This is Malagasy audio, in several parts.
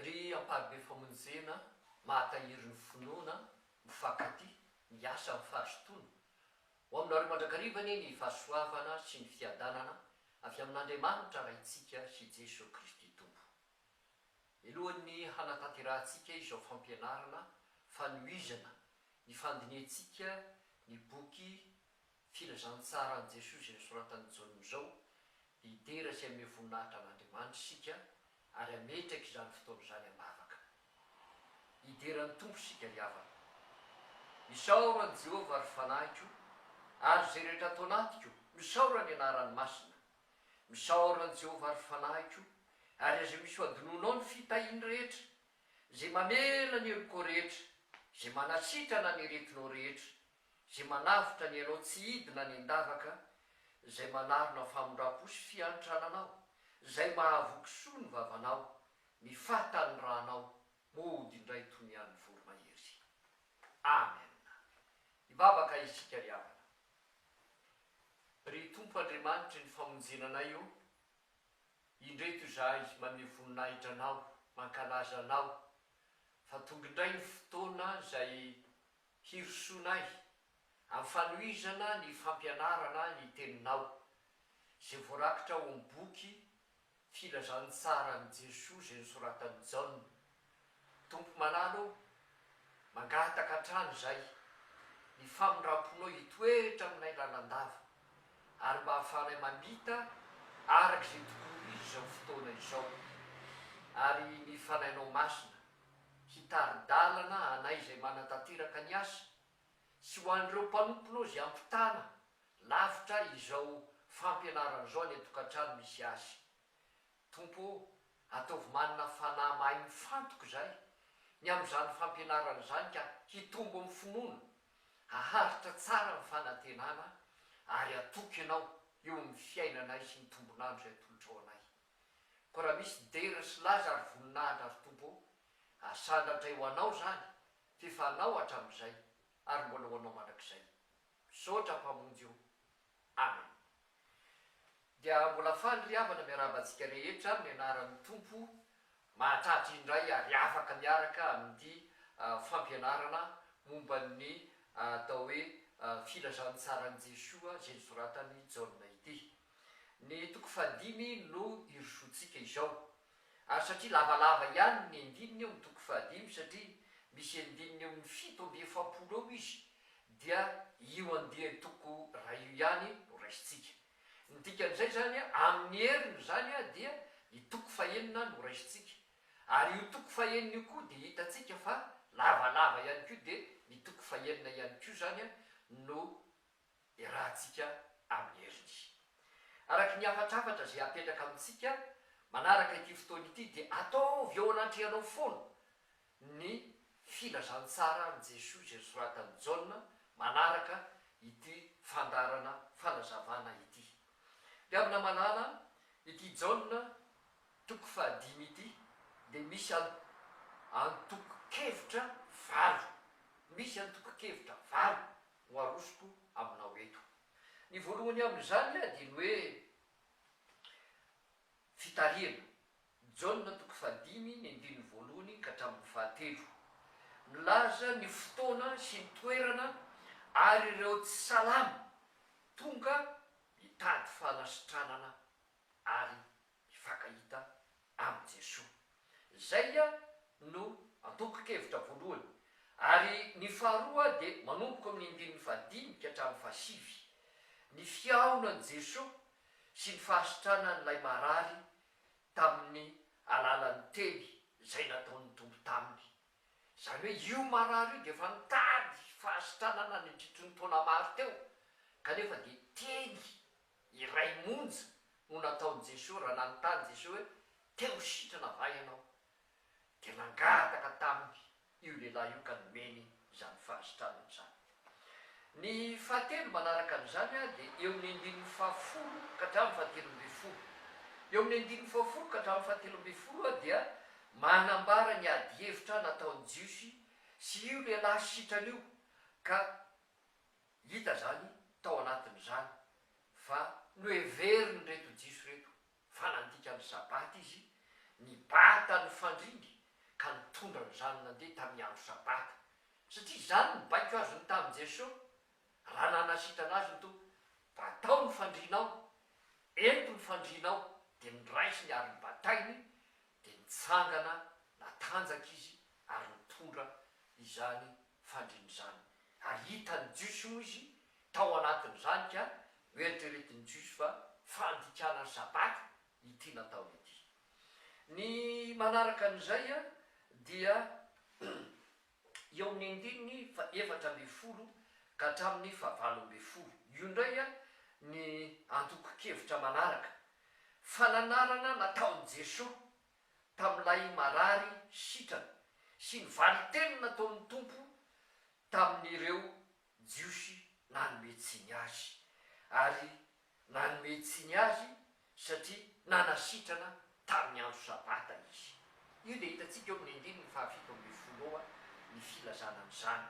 Ry amparibe famonjena mahatahiry ny finoana, mifankatia, miasa amin'ny fahaztoana. Ho aminareo mandrakariva anie ny fahasoavana sy ny fiadanana avy amin'Andriamanitra Raintsika sy Jesoa Kristy Tompo. Mialohan'ny hanatanterahantsika izao fampianarana fanohizana ny fandinihantsika ny boky Filazantsaran'i Jesoa izay nosoratan'i Jaona izao, Hidera sy haneho voninahitra an'Andriamanitra isika ary hametraka izany fotoana izany am-bavaka. Hidera ny Tompo isika ry havana. Isaoro an'i Jehovah ry fanahiko, ary izay rehetra ato anatiko, misaora ny anarany masina. Misaora an'i Jehovah ry fanahiko, ary aza misy hohadinoinao ny fitahiany rehetra, izay mamela ny helokao rehetra, izay manasitrana ny aretinao rehetra, Izay manavotra ny anao tsy hidina any an-davaka, izay manarona famindram-po sy fiantrananao, izay mahavoky soa ny vavanao, ny fahataniranao moa hody indray toy ny an'ny voromahery. Amen. Hivavaka isika ry havana. Ry Tompo Andriamanitry ny famonjena anay ô, indreto izahay maneho voninahitra Anao, mankalaza Anao, fa tonga indray ny fotoana izay Hirosoanay amin'ny fanohizana ny fampianarana ny Teninao, izay voarakitra ao amin'ny boky Filazantsaran'i Jesoa izay nosoratan'i Jaona. Tompo malala ô, mangataka hatrany izahay ny famindram-ponao hitoetra aminay lalandava, ary mba hahafahanay mamita araka izay tokony ho izy izao fotoana izao, ary ny Fanahinao Masina hitari-dalana anay izay manatanteraka ny asa, sy ho an'ireo mpanomponao izay ampitana lavitra izao fampianarana izao any an-tokantrano misy azy. Tompo ô, ataovy manana fanahy mahay mifantoka izahay ny amin'izany fampianarana izany ka hitombo amin'ny finoana, haharitra tsara ny fanantenana, ary hatoky Ianao eo amin'ny fiainanay sy ny tombon'andro izay atolotrao anay. ko raha misy dera sy laza ary voninahitra ry Tompo o, asana ndray ho anao zany f'efa anao hatramizay ary mbola ho anao mandrakizay. Misaotra Mpamonjy o. Amen. Dia mbola faly ry havana miarahaba antsika rehetra amin'ny anaran'ny Tompo mahatratra indray ary afaka miaraka amin'ity fampianarana momba ny atao hoe filazantsaran'i Jesoa izay nosoratan'i Jaona ity. Ny toko fahadimy no irosoantsika izao. Ary satria lavalava ihany ny andininy eo amin'ny toko fahadimy, satria misy andininy eo amin'ny fito amby efapolo eo izy, dia io andian-toko iray io ihany no raisintsika. Ny dikan'izay izany, amin'ny heriny izany dia ny toko fahenina no raisintsika. Ary io toko fahenina io koa dia hitantsika fa lavalava ihany koa, dia ny toko fahenina ihany koa izany no iarahantsika amin'ny heriny. Araka ny hafatrafatra izay apetraka amintsika manaraka ity fotoana ity dia ataovy eo anatrehanao foana ny filazantsaran'i Jesoa izay soratan'i Jaona manaraka ity fandaharana fanazavana ity. Mpihavana malala, ity Jaona toko fahadimy ity dia misy antokon-kevitra valo. Misy antokon-kevitra valo no arosoko aminao eto. Ny voalohany amin'izany dia ny hoe fitarihana, Jaona toko fahadimy ny andininy voalohany ka hatramin'ny fahatelo. Milaza ny fotoana sy ny toerana ary ireo tsy salama tonga hitady fanasitranana ary hifankahita amin'i Jesoa. Izay no antokonkevitra voalohany. Ary ny faharoa dia manomboka amin'ny andininy fahadimy ka hatramin'ny fahasivy. Ny fihaonan'i Jesoa sy ny fahasitranan'ilay marary tamin'ny alalan'ny teny izay nataon'ny Tompo taminy. Izany hoe io marary io dia efa nitady fahasitranana nandritry ny taona maro teo kanefa dia teny Iray monja no nataon'i Jesoa raha nanontany Jesoa hoe, Te ho sitrana va ianao? Dia nangataka taminy io lehilahy io ka nomeny izany fahasitranana izany. Ny fahatelo manaraka an'izany dia eo amin'ny andininy fahafolo ka hatramin'ny fahatelo ambin'ny folo. Eo amin'ny andininy fahafolo ka hatramin'ny fahatelo ambin'ny folo dia manambara ny adihevitra nataon'ny Jiosy sy io lehilahy sitrana io ka Hita izany tao anatin'izany fa noheverin'ireto Jiosy ireto fa nandika ny Sabata izy, nibata ny fandriny ka nitondra ny zanany nandeha tamin'ny andro Sabata, satria izany no baiko azony tamin'i Jesoa raha nanasitrana azy ny Tompo, Batao ny fandrinao, ento ny fandrinao, dia noraisiny ary nobatainy, dia nitsangana natanjaka izy ary nitondra izany fandrin'izany. Ary hitan'ny Jiosy moa izy tao anatin'izany ka noeritreretin'ny Jiosy fa fandikana sabata ity nataony ity. Ny manaraka an'izay dia eo amin'ny andininy fahefatra ambin'ny folo ka hatramin'ny fahavalo ambin'ny folo. Io indray ny antokon-kevitra manaraka, fananarana nataon'i Jesoa tamin'ilay marary sitrana sy ny valin-teny nataon'ny Tompo tamin'ireo Jiosy nanome tsiny Azy, ary nanome tsiny Azy satria nanasitrana tamin'ny andro Sabata Izy. Io dia hitantsika eo amin'ny andininy fahafito ambin'ny folo eo ny filazana an'izany.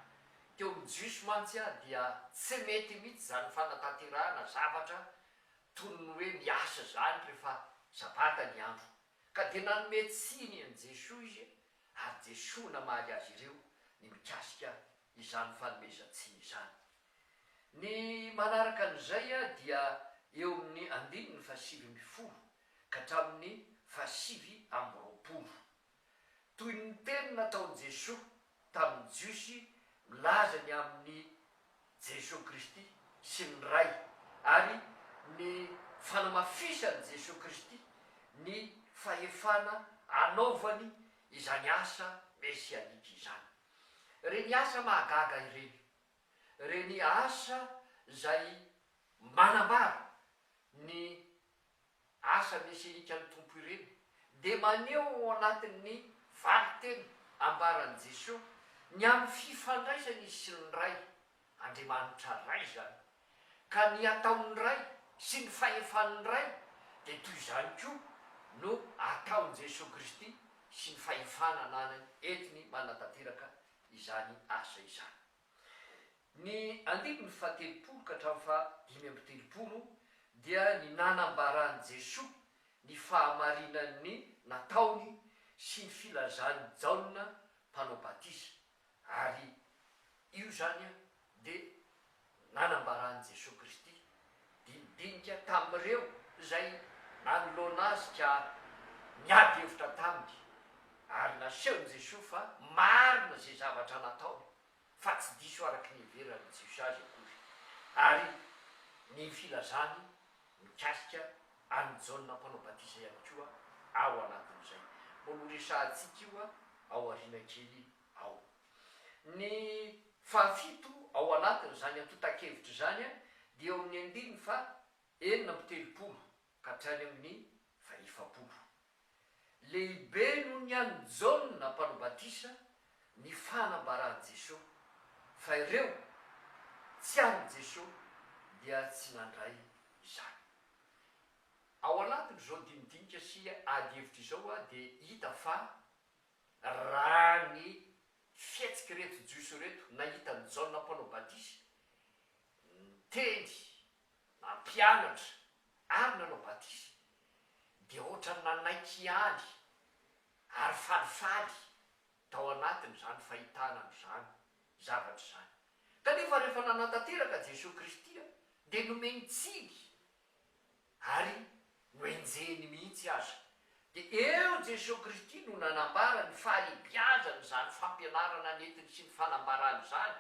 Teo amin'ny Jiosy mantsy dia tsy mety mihitsy izany fanatanterahana zavatra Toy ny hoe miasa izany rehefa sabata ny andro. Ka dia nanome tsiny an'i Jesoa izy, ary Jesoa namaly azy ireo ny mikasika izany fanomezan-tsiny izany. Ny manaraka an'izay dia eo amin'ny andininy fahasivy ambin'ny folo ka hatramin'ny fahasivy amby roapolo. Toy ny teny nataon'i Jesoa tamin'ny Jiosy milaza ny amin'i Jesoa Kristy sy ny Ray ary ny fanamafisan'i Jesoa Kristy ny fahefana anaovany izany asa mesianika izany. Ireny asa mahagaga ireny, ireny asa izay manambara ny asa mieserikan'ny Tompo ireny dia maneho ao anatin'ny valin-teny ambaran'i Jesoa ny amin'ny fifandraisany izy sy ny Ray, Andriamanitra Ray izany, ka ny ataon'ny Ray sy ny fahefan'ny Ray dia toy izany koa no ataon'i Jesoa Kristy sy ny fahefana ananany entiny manatanteraka izany asa izany. Ny andininy fahatelopolo ka hatramin'ny faha dimy amby telopolo dia ny nanambaran'i Jesoa ny fahamarinan'ny nataony sy ny filazan'i Jaona mpanao batisa, ary io izany dia nanambaran'i Jesoa Kristy didinika tamin'ireo izay nanoloana azy ka niady hevitra taminy, ary nasehon'i Jesoa fa marina izay zavatra nataony fa tsy diso araka ny heveran'ny Jiosy azy akory, ary ny filazany mikasika an'i Jaona Mpanao Batisa ihany koa ao anatin'izay. Mbola horesahantsika io aoriana kely ao. Ny fahafito ao anatin'izany antontan-kevitra izany dia eo amin'ny andininy faha enina amby telopolo ka hatrany amin'ny faha efapolo. Lehibe noho ny an'i Jaona Mpanao Batisa ny fanambaran'i Jesoa fa ireo tsy an'i Jesoa dia tsy nandray izany. Ao anatin'izao dinidinika sy adihevitra izao dia hita fa. Raha ny fihetsik'ireto Jiosy ireto nahita an'i Jaona Mpanao Badisa niteny, nampianatra ary nanao batisa dia ohatran'ny nanaiky ihany ary falifaly tao anatiny izany fahitana an'izany zavatra izany. Kanefa rehefa nanatanteraka Jesoa Kristy dia nomeny tsiny ary nohenjehiny mihitsy aza, dia eo Jesoa Kristy no nanambara ny fahalebiazan' izany fampianarana nentiny sy ny fanambarany izany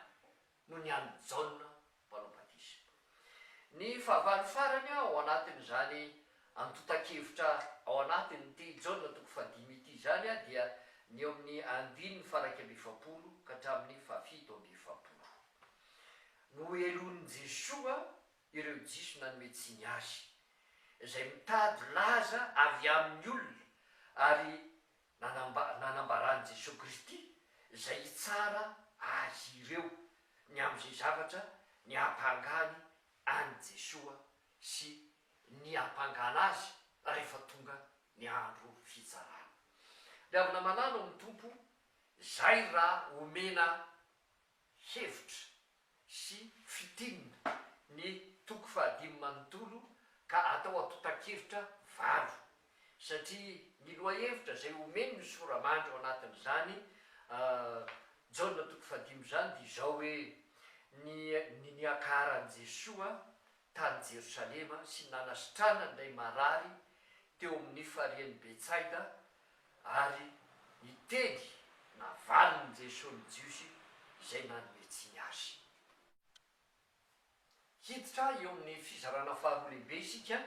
noho ny an'i Jaona Mpanao Batisa. Ny fahavalo farany ao anatin' izany antontan-kevitra ao anatin' ity Jaona toko fahadimy ity izany dia ny eo amin' ny andininy faharaika amby efapolo ka hatramin' ny fahafito amby efapolo. Nohelonin'i Jesoa ireo Jiosy nanome tsiny azy, izay mitady laza avy amin'ny olona, ary nanamba, nanambaran'i Jesoa Kristy izay hitsara azy ireo ny amin'izay zavatra niampangany an'i Jesoa sy niampangana azy rehefa tonga ny andro fitsarana. Dia avy namanano amin'ny Tompo, Izay raha omena hevitra sy fitinina ny toko fahadimy manontolo ka atao antontan-kevitra valo satria ny lohahevitra izay omeny ny sora-mandry ao anatin'izany Jaona toko fahadimy izany dia izao hoe, ny ny niakaran'i Jesoa tany Jerosalema sy ny nanasitranany ilay marary teo amin'ny farian'i Betsaida ary ny teny navalin'i Jesoa ny Jiosy izay nanome tsiny Azy. Hiditra eo amin'ny fizarana faharoa lehibe isika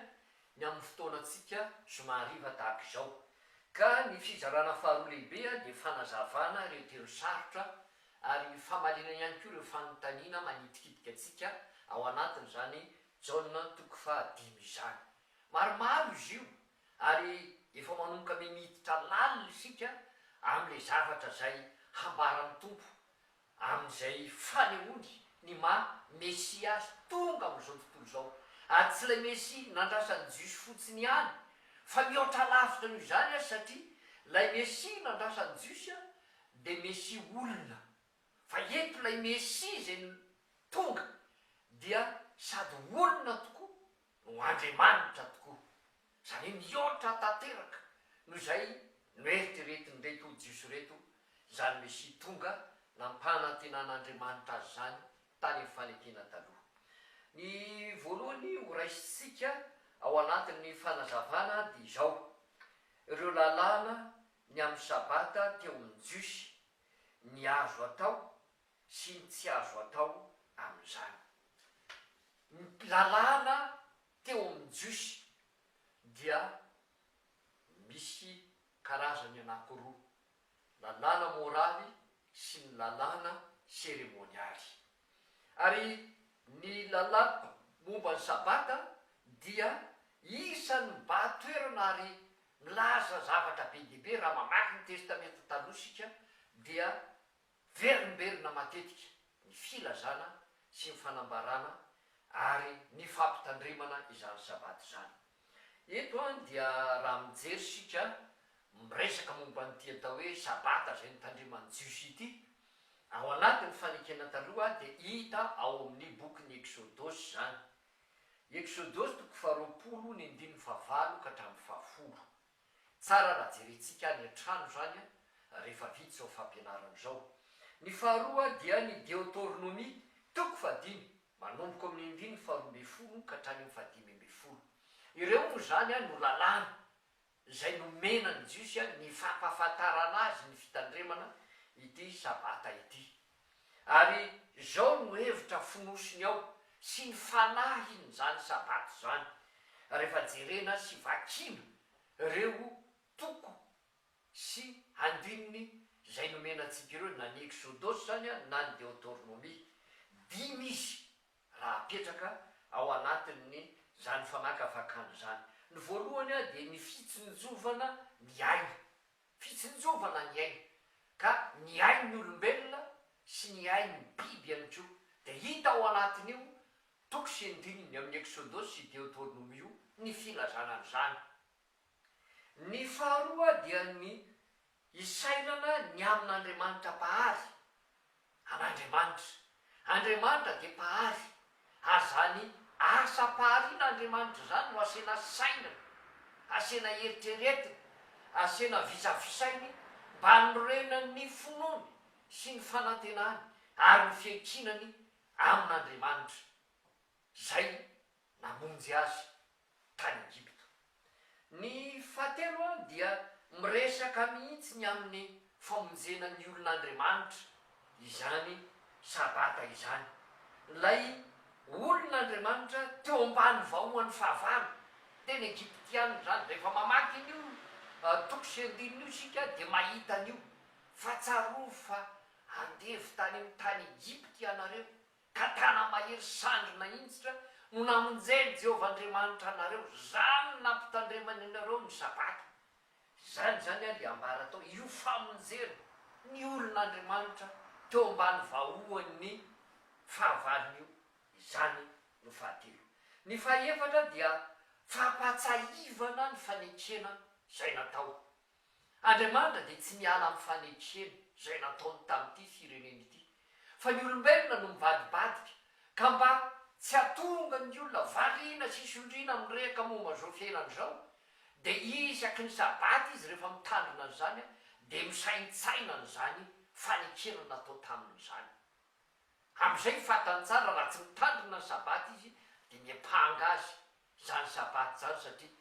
ny amin'ny fotoanantsika zoma hariva tahaka izao, ka ny fizarana faharoa lehibe dia fanazavana ireo teny sarotra Ary famaliana ihany koa ireo fanontaniana manitikitika antsika ao anatin'izany Jaona toko faha dimy izany. Maromaro izy io, ary efa manomboka miditra lalina isika amin'ilay zavatra izay hambaran'ny Tompo amin'izay fanehoany ny maha Mesia Azy tonga amin'izao tontolo izao. Ary tsy ilay Mesia nandrasan'ny Jiosy fotsiny ihany, fa mihoatra lavitra noho izany Azy, satria ilay Mesia nandrasan'ny Jiosy dia Mesia olona, fa eto ilay Mesia izay tonga dia sady olona tokoa no Andriamanitra tokoa. Izany hoe mihoatra tanteraka noho izay noeritreretin'ireto Jiosy ireto izany Mesia tonga nampanantenan'Andriamanitra azy izany tany amin'ny fanekena taloha. Ny voalohany horaisintsika ao anatin'ny fanazavana dia izao, ireo lalàna Ny amin'ny Sabata teo amin'ny Jiosy, ny azo atao sy ny tsy azo atao amin'izany. Ny lalàna teo amin'ny Jiosy dia misy karazany anankiroa, lalàna moraly sy ny lalàna seremonialy. Ary ny lalàna momba ny Sabata dia isan'ny mibaha toerana ary milaza zavatra be dia be. Raha mamaky ny Testamenta Taloha isika dia verimberina matetika ny filazana sy ny fanambarana ary ny fampitandremana izany Sabata izany. Eto an dia raha mijery isika miresaka momba an'ity atao hoe sabata izay nitandreman'ny jiosy ity, ao anatin'ny fanekena taloha dia hita ao amin'ny bokin'ny Eksodosy izany. Eksodosy toko faharoapolo ny andininy fahavalo ka hatramin'ny fahafolo. Tsara raha jerentsika any an-trano izany an, rehefa vita izao fampianarana izao. Ny faharoa dia ny Deoteronomia, toko fahadimy, manomboka ao amin'ny andininy faharoa ambin'ny folo ka hatrany amin'ny fahadimy ambin'ny folo. Ireo moa izany an no lalàna izay nomena ny Jiosy an ny fampahafantarana azy ny fitandremana ity Sabata ity. Ary izao no hevitra fonosiny ao sy ny fanahiny izany Sabata izany, rehefa jerena sy vakiana ireo toko sy andininy izay nomena antsika ireo, na ny Exodosy izany na ny Deotornomia. Dimy izy raha apetraka ao anatin'ny izany fanakavakana izany. Ny voalohany dia ny fitsinjovana ny aina. Fitsinjovana ny ainy, ka ny ain'ny olombelona sy ny ain'ny biby ihany koa, dia hita ao anatin'io toko sy andininy amin'ny Eksodosy sy Deoteronoma io ny filazana an'izany. Ny faharoa dia ny isailana ny amin'Andriamanitra Mpahary, an'Andriamanitra. Andriamanitra dia Mpahary, ary izany asam-paharian'Andriamanitra izany no asiana saina, asiana eritreretina, asiana visavisainy mba hanorenan'ny finoany sy ny fanantenany ary ny fiankinany amin'Andriamanitra. Izay namonjy azy tany Egypta. Ny fahatelo dia miresaka mihitsy ny amin'ny famonjena ny olon'Andriamanitra izany Sabata izany. Ilay olon'Andriamanitra teo ambany vahohany fahavalo, tena Egyptiana izany. Rehefa mamaky an'io toko sy andininy io isika dia mahita an'io fa tsarovy fa andevo tany amin'ny tany Egypta ianareo. Ka tana-mahery sandry nahinjitra no namonjen'i Jehovah Andriamanitra anareo, izany no nampitandremany anareo ny Sabata. Izany izany ary ambara tao, io famonjena ny olon'Andriamanitra teo ambany vahoan'ny fahavalony io. Izany no fahatelo. Ny fahaefatra dia fampahatsiahivana ny fanekena izay natao Andriamanitra dia tsy miala amin'ny fanetren izay nataony tamin'ity firenena ity, fa ny olombelona no mivadibadika, ka mba tsy hahatonga ny olona variana sy sondriana mirehaka momba izao fiainana izao, dia isaky ny sabata izy rehefa mitandrina an'izany dia misaintsaina an'izany fanekena natao taminy izany. Amin'izay fantany tsara raha tsy mitandrina ny sabata izy dia miampanga azy izany sabbath izany satria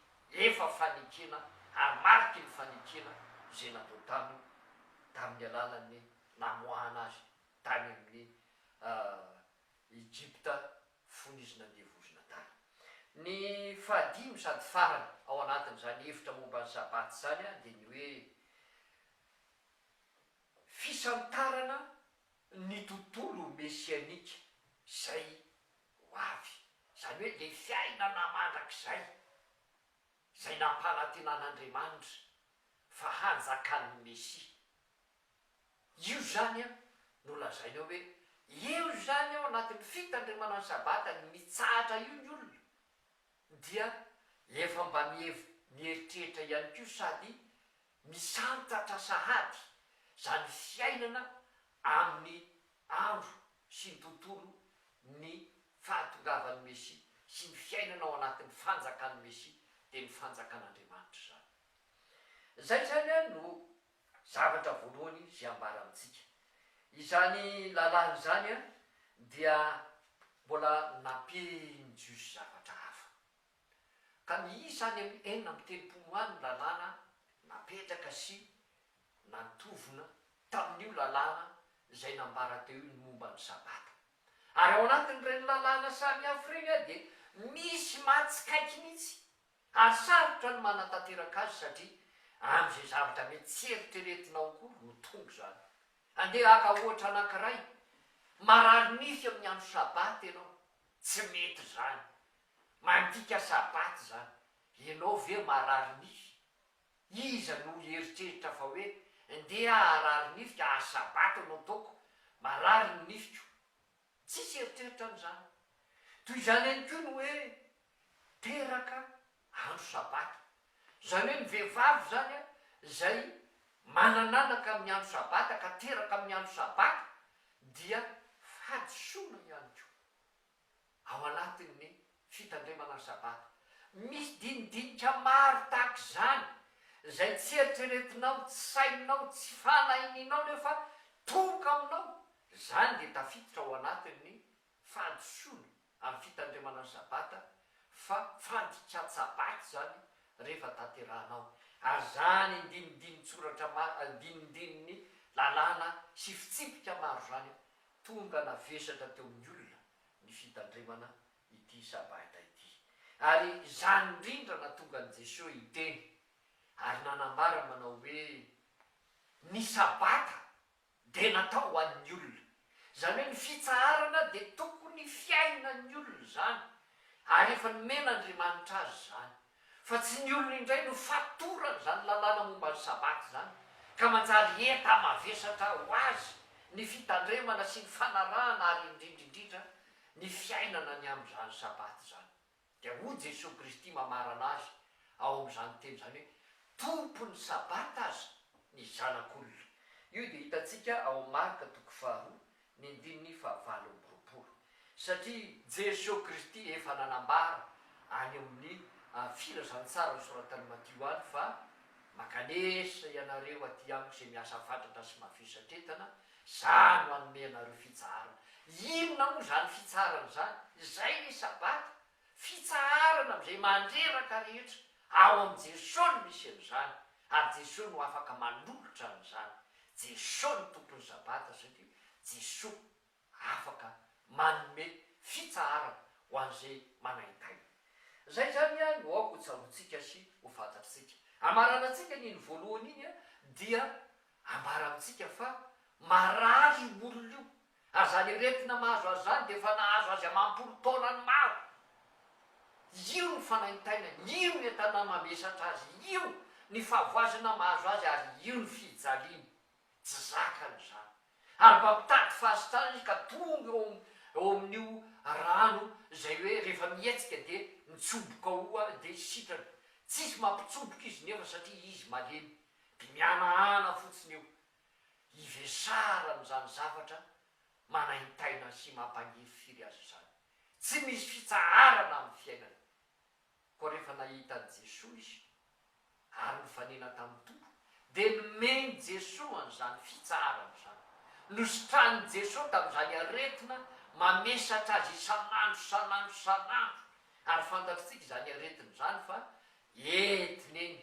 efa fanikiana ary mariky ny fanikiana izay natao taminy tamin'ny alalan'ny namoahana azy tany amin'ny Egypta fony izy nandeha vozona tany. Ny fahadimy sady farany ao anatin'izany hevitra momba ny sabbath izany dia ny hoe fisantarana ny tontolo mesianika izay Ho avy, izany hoe ilay fiainana mandrakizay izay nampanantenan'Andriamanitra fa hanjakan'ny Mesia. Io izany no lazaina hoe eo izany ao anatin'ny fitandremana ny Sabata ny mitsahatra io ny olona dia efa mba mieritreritra ihany koa sady misantatra sahady izany fiainana amin'ny andro sy ny tontolo ny fahatongavan'ny Mesia sy ny fiainana ao anatin'ny fanjakan'ny Mesia dia ny fanjakan'Andriamanitra izany. Izay izany no zavatra voalohany izay ambara amintsika. Izany lalàna izany dia mbola nampian'ny Jiosy zavatra hafa. Ka miisa any amin'ny enina amby telopolo any ny lalàna napetraka sy Nantovina tamin'io lalàna izay nambara teo io ny momba ny Sabata. Ary ao anatin'ireny lalàna samihafa ireny dia misy mahatsikaiky mihitsy, ary sarotra ny manatanteraka azy satria amin'izay zavatra mety tsy eritreretinao akory no tonga izany. Andeha haka ohatra anankiray, Marary nify amin'ny andro Sabata ianao. Tsy mety izany. Mandika Sabata izany. Ianao ve marary nify? Iza no hieritreritra fa hoe ndeha harary nify ka ary sabata no ataoko, marary ny nifiko. Tsisy eritreritra an'izany. Toy izany ihany koa ny hoe teraka andro sabata. Izany hoe ny vehivavy izany izay manan'anaka amin'ny andro sabata ka teraka amin'ny andro sabata dia fahadisoana ihany koa. ao anatin'ny fitandremana ny Sabata. Misy dinidinika maro tahaka izany izay tsy eritreretinao, tsy saininao, tsy fanahinianao nefa tohoka aminao, izany dia tafiditra ao anatin'ny fahadisoana amin'ny fitandremana ny Sabata fa fandikan-tsabaty izany rehefa tanterahanao ary izany dinidinin'tsoratra maro, dinidinin'ny lalàna sy fitsipika maro izany Tonga navesatra teo amin'ny olona ny fitandremana ity Sabata ity. Ary izany indrindra natonga an'i Jesoa hiteny ary nanambara manao hoe, Ny Sabata dia natao ho an'ny olona. Izany hoe ny fitsaharana dia tokony fiainan'ny olona izany, ary efa nomen'Andriamanitra azy izany. Fa tsy ny olona indray no fatoran'izany lalàna momba ny Sabata izany, ka manjary enta-mavesatra ho azy ny fitandremana sy ny fanarahana ary indrindra indrindra ny fiainana ny amin'izany Sabata izany. Dia hoy Jesoa Kristy mamarana Azy ao amin'izany teny izany hoe, Tompon'ny Sabata aza ny Zanak'olona. Io dia hitantsika ao amin'ny Marka toko faharoa, Ny andininy fahavalo amby roapolo. Satria Jeso Kristy efa nanambara any amin'ny Filazantsara nosoratan'i Matio any fa, Mankanesa ianareo aty Amiko izay miasa fatratra sy mafiho satretana, za no hanome anareo fitsaharana. Inona moa izany fitsaharana izany? Izay ny Sabata! Fitsaharana amin'izay mandreraka rehetra, ao amin'i Jesoa no misy an'izany, ary Jesoa no afaka manolotra an'izany. Jesoa no Tompon'ny Sabata satria Jesoa afaka manome fitsaharana ho an'izay manaintaina. Izay izany no aoka hotsaroantsika sy ho fantatritsika. Hamaranantsika ny iny voalohany iny dia Ambara amintsika fa marary io olona io, ary izany aretina mahazo azy izany dia efa nahazo azy amam-polo taonany maro. Io ny fanaintainany, io ny entana mamesatra azy, io ny fahavoazana mahazo azy ary io ny fijaliany. Tsy zakany izany. Ary mba mitady fahasitrana izy ka tonga eo eo amin'io rano izay hoe rehefa mihetsika dia mitsoboka ao dia sitrana. Tsisy mampitsoboka izy nefa satria izy malemy. Dia mihanahana fotsiny io hivesarany izany zavatra manaintaina sy mampangiry firy azy izany. Tsy misy fitsaharana amin'ny fiainany. Koa rehefa nahita an'i Jesoa izy ary nifanena tamin'ny Tompo dia nomen'i Jesoa an'izany fitsaharana izany. Nositranin'i Jesoa tamin'izany aretina mamesatra azy isan'andro, isan'andro, isan'andro. Ary fantatritsika izany aretina izany fa entina eny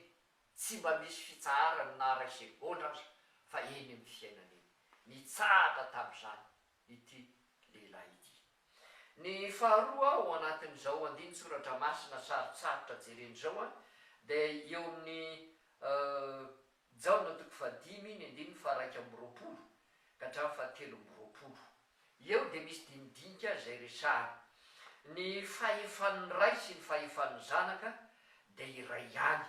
Tsy mba misy fitsaharany na ray segondra aza fa eny amin'ny fiainany eny. Nitsahatra tamin'izany ity lehilahy ity. Ny faharoa ao anatin'izao andinin-tsoratra masina sarotsarotra jerena izao dia eo amin'ny Jaona toko fahadimy ny andininy faha iraika amby roapolo ka hatramin'ny fahatelo amby roapolo. Eo dia misy dinidinika izay resahana. Ny fahefan'ny Ray sy ny fahefan'ny Zanaka dia iray ihany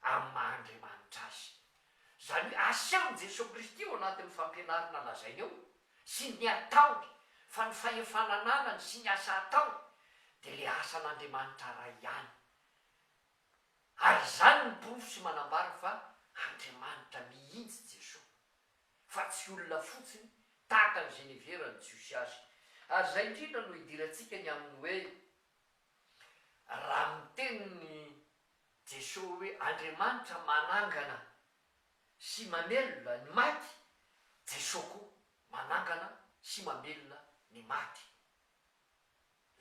amin'ny maha Andriamanitra Azy. Izany hoe asehon'i Jesoa Kristy ao anatin'ny fampianarana lazainy eo sy ny ataony fa ny fahefana ananany sy ny asa ataony dia ilay asan'Andriamanitra Ray ihany. Ary izany no porofo sy manambara fa Andriamanitra mihitsy Jesoa. fa tsy olona fotsiny tahaka an'i Geneviève ny Jiosy azy. Ary izay indrindra no idirantsika ny amin'ny hoe, raha ny tenin'i Jesoa hoe Andriamanitra manangana sy mamelona ny maty, Jesoa koa manangana sy mamelona ny maty.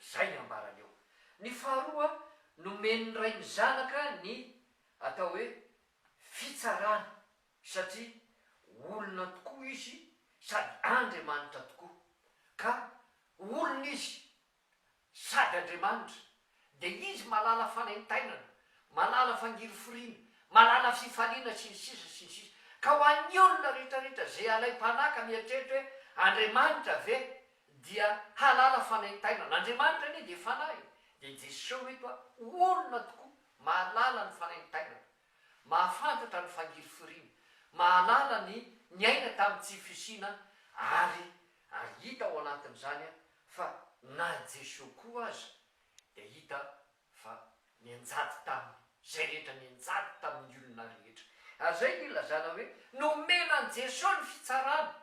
Izay ny ambarany eo. Ny faharoa, nomen'ny Ray ny Zanaka ny atao hoe fitsarana. satria olona tokoa izy sady Andriamanitra tokoa, ka olona izy sady Andriamanitra, dia izy malala fanaintainana, malala fangiriforiana, malala fifaliana sy ny sisa sy ny sisa, ka ho an'ny olona rehetra rehetra izay alaim-panahy ka mieritreritra hoe Andriamanitra ve dia halala fanaintainana, Andriamanitra anie dia fanahy, dia Jesoa eto olona tokoa, mahalala ny fanaintainana, Mahafantatra ny fangirifiriana, mahalala ny niaina tamin'ny tsy fisiana ary ary hita ao anatin'izany fa na i Jesoa koa aza dia hita fa nianjady taminy izay rehetra, nianjady tamin'ny olona rehetra. Ary izay no ilazana hoe nomena an'i Jesoa ny fitsarana.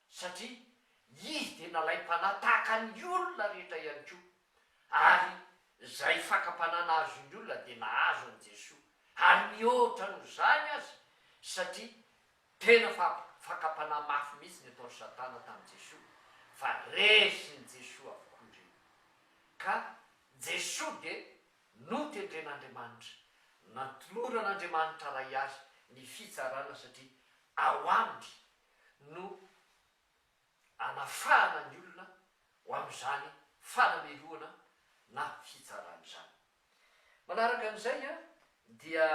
satria Izy dia nalaim-panahy tahaka ny olona rehetra ihany koa, ary izay fakam-panahy nahazo ny olona dia nahazo an'i Jesoa, ary mihoatra noho izany aza, satria tena fa fakam-panahy mafy mihitsy ny ataon'i Satana tamin'i Jesoa, fa resin'i Jesoa avokoa ireny. Ka Jesoa dia notendren'Andriamanitra, natoloran'Andriamanitra Ray Azy ny fitsarana satria ao Aminy no anafahana ny olona ho amin'izany fanamelohana na fitsarana izany. Manaraka an'izay dia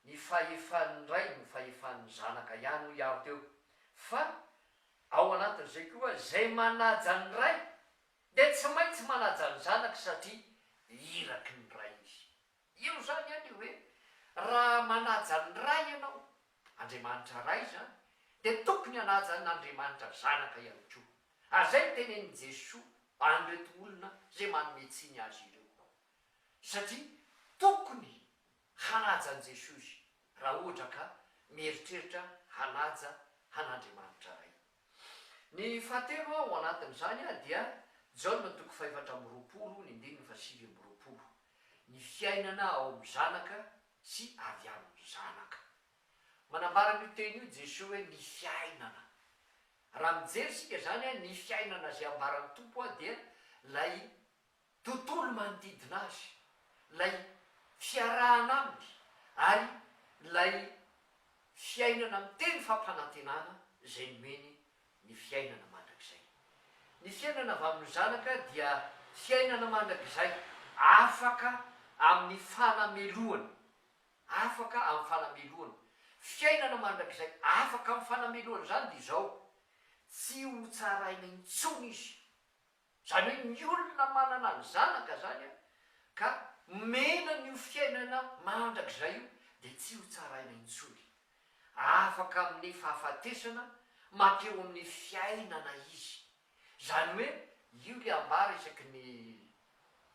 ny fahefan'ny ray no fahefan'ny zanaka ihany hoy aho teo fa ao anatin'izay koa izay manaja ny ray dia tsy maintsy manaja ny zanaka satria iraky ny ray izy. Io izany anie hoe raha manaja ny Ray ianao, Andriamanitra Ray izany, dia tokony hanaja an' Andriamanitra Zanaka ihany koa. Ary izay no tenenin'i Jesoa an'ireto olona izay manome tsiny Azy ireo. Satria tokony hanaja an'i Jesoa izy raha ohatra ka mieritreritra hanaja an' Andriamanitra Ray. Ny fahatelo ao anatin'izany dia Jaona toko fahefatra amby roapolo ny andininy fahasivy amby roapolo, ny fiainana ao amin'ny Zanaka sy avy amin'ny Zanaka. Manambara an'io teny io Jesoa hoe ny fiainana. Raha mijery isika izany, ny fiainana izay ambaran'ny Tompo dia ilay tontolo manodidina azy, ilay fiarahana aminy ary ilay fiainana miteny fampanantenana izay nomeny ny fiainana mandrakizay. Ny fiainana avy amin'ny Zanaka dia fiainana mandrakizay afaka amin'ny fanamelohana, afaka amin'ny fanamelohana. Fiainana mandrakizay afaka amin'ny fanamelohana izany dia izao, tsy hotsaraina intsony izy Izany hoe ny olona manana ny zanaka izany an, ka omena an'io fiainana mandrakizay io dia tsy ho tsaraina intsony. Afaka amin'ny fahafatesana mankeo amin'ny fiainana izy. Izany hoe io ilay ambara isaky ny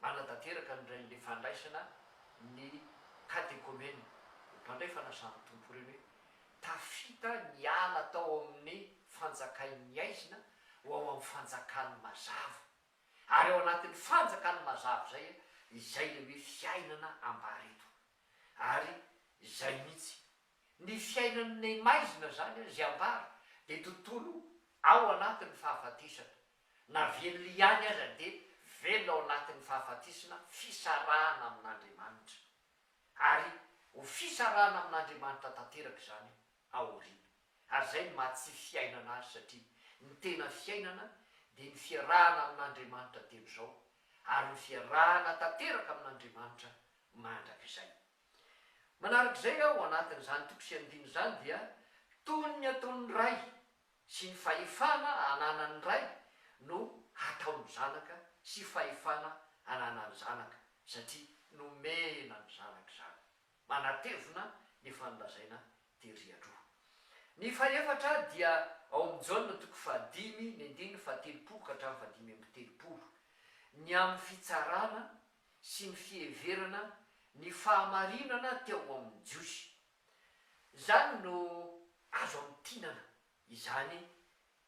Nanatanteraka ny Rain'ny Fandraisana ny katekomena, ny mpandray fanasan'ny Tompo ireny hoe, Tafita niala tao amin'ny fanjakain'ny aizina ho ao amin'ny fanjakan'ny mazava. Ary ao anatin'ny fanjakan'ny mazava izay, izay ilay hoe fiainana ambara eto. Ary izay mihitsy. Ny fiainan'ny maizina izany izay ambara dia tontolo ao anatin'ny fahafatesana. Na velona ihany aza dia velona ao anatin'ny fahafatesana, fisarahana amin'Andriamanitra. Ary ho fisarahana amin'Andriamanitra tanteraka izany ao aoriana. Ary izay no maha tsy fiainana azy satria ny tena fiainana dia ny fiarahana amin'Andriamanitra dieny izao ary ny fiarahana tanteraka amin'Andriamanitra mandrakizay. Manarak'izay ao anatin'izany toko sy andininy izany dia toy ny ataon'ny ray sy ny fahefana ananan'ny Ray no hataon'ny Zanaka sy fahefana ananan'ny Zanaka satria nomena ny Zanaka izany, manatevina ny efa nolazaina tery aloha. Ny fahefatra dia ao amin'ny Jaona toko fahadimy ny andininy fahatelopolo ka hatramin'ny fahadimy amby telopolo, ny amin'ny fitsarana sy ny fiheverana ny fahamarinana teo amin'ny Jiosy Izany no azo amintinana izany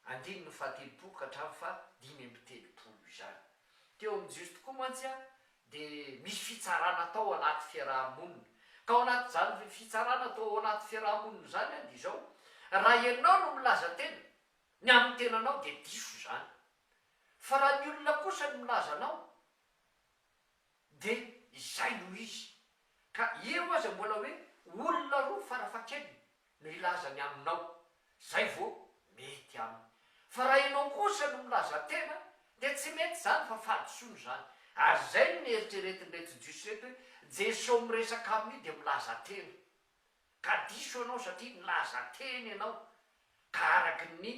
andininy fahatelopolo ka hatramin'ny fahadimy amby telopolo izany. Teo amin'ny Jiosy tokoa mantsy dia misy fitsarana atao ao anaty fiaraha-monina. Ka ao anatin'izany fitsarana atao ao anaty fiaraha-monina izany dia izao, raha ianao no milaza tena ny amin'ny tenanao dia diso izany. Fa raha ny olona kosa no milaza anao De izay no izy. Ka eo aza mbola hoe olona roa farafahakeliny no hilaza ny aminao, zay vao mety aminy. Fa raha ianao kosa no milaza tena de tsy mety zany fa fahadisoana zany. Ary zay no neritreretin'ireto jiosy reto hoe Jeso miresaka amin'io de milaza tena. ka diso ianao satria nilaza teny ianao ka araky ny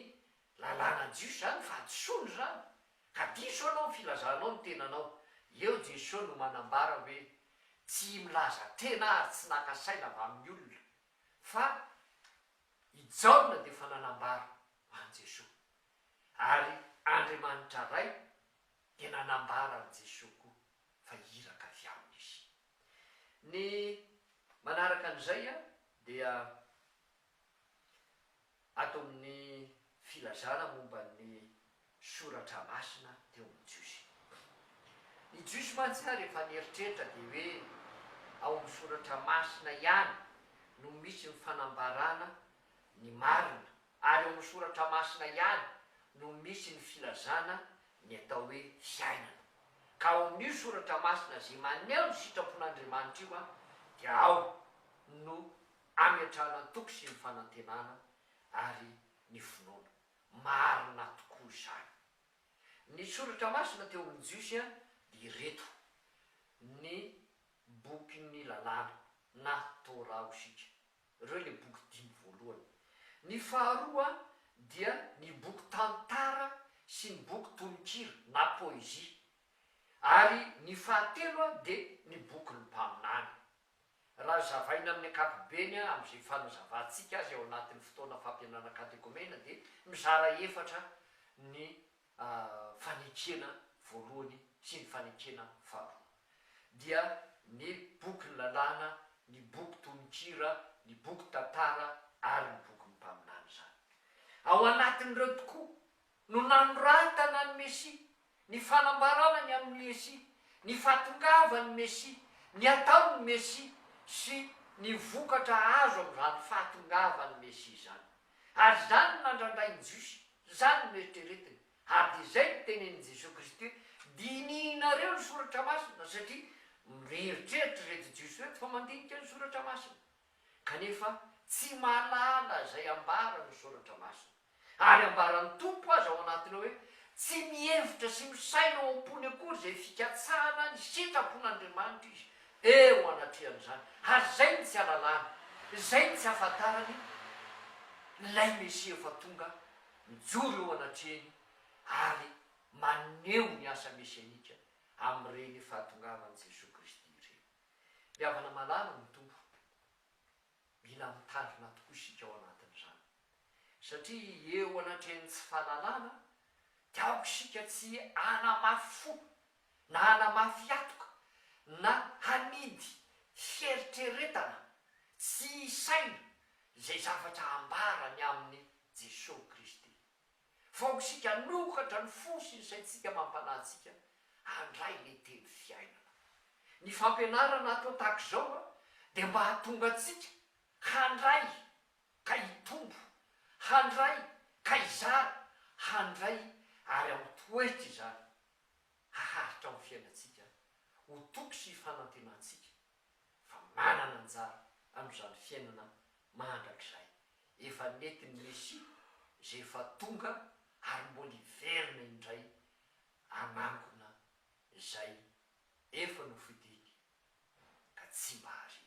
lalàna jiosy izany fahadisoana izany ka diso ianao ny filazanao ny tenanao, eo Jesoa no manambara hoe tsy milaza tena ary tsy naka saina avy amin'ny olona fa i Jaona dia efa nanambara ho an'i Jesoa ary Andriamanitra Ray dia nanambara an'i Jesoa koa fa iraka avy aminy izy. Ny manaraka an'izay dia ato amin'ny filazana momba ny soratra masina teo amin'ny Jiosy. Ny Jiosy mantsy ary efa nieritreritra dia hoe ao amin'ny soratra masina ihany no misy ny fanambarana ny marina ary ao amin'ny Soratra Masina ihany no misy ny filazana ny atao hoe fiainana. Ka ao amin'io Soratra Masina izay maneho ny sitrapon'Andriamanitra io dia ao no ametrahana ny toky sy ny fanantenana ary ny finoana. Marina tokoa izany. Ny Soratra Masina teo amin'ny Jiosy dia ireto, ny bokin'ny lalàna na Torah ho isika. Ireo ilay boky dimy voalohany. Ny faharoa dia ny boky tantara sy ny boky tononkira na poezia. Ary ny fahatelo dia ny bokin'ny mpaminany. Raha zavaina amin'ny ankapobeny amin'izay fanazavantsika azy ao anatin'ny fotoana fampianana katekomena dia mizara efatra ny a fanekena voalohany sy ny fanekena faharoa dia ny boky ny lalàna, ny boky tononkira, ny boky tantara ary ny boky ny mpaminany izany. Ao anatin'ireo tokoa no nanoratana ny Mesia, ny fanambarana ny amin'ny Mesia, ny fahatongavan'ny Mesia, ny ataon'ny Mesia sy ny vokatra azo amin'izany fahatongavan'ny Mesia izany. Ary izany no nandrandrain'ny Jiosy. Izany no eritreretiny, ary dia izay no tenenin'i Jesoa Kristy hoe, Dinihinareo ny Soratra Masina, satria mieritreritra ireto Jiosy ireto fa mandinika ny Soratra Masina, kanefa tsy mahalala izay ambaran'ny Soratra Masina. Ary ambaran'ny Tompo aza ao anatiny ao hoe, Tsy mihevitra sy misaina ao am-pony akory izay fikatsahana ny sitrapon'Andriamanitra izy, Eo anatrehan'izany, ary izay no tsy alalany, izay no tsy ahafantarany, ilay Mesia efa tonga, mijoro eo anatrehany ary maneho ny asa mesianika amin'ireny fahatongavan'i Jesoa Kristy ireny. Ny havana malala no Tompo. Mila mitandrina tokoa isika ao anatin'izany, satria eo anatrehan'ny tsy fahalalana dia aoka isika tsy hanamafy fo na hanamafy hatoka na hanidy fieritreretana tsy isaina izay zavatra ambara ny amin'i Jesosy Kristy. fa ho isika hanokatra ny fo sy ny saintsika mampanahy antsika handray ilay teny fiainana. Ny fampianarana atao tahaka izao dia mba hahatonga antsika handray ka hitombo, handray ka hizara, handray ary hamitoetra izany, haharitra amin'ny fiainantsika ho toky sy hifanantenantsika fa manana anjara amin'izany fiainana mandrakizay efa nentin'ny Mesia izay efa tonga ary mbola hiverina indray hanangona izay efa nofidiny ka tsy mba hariany.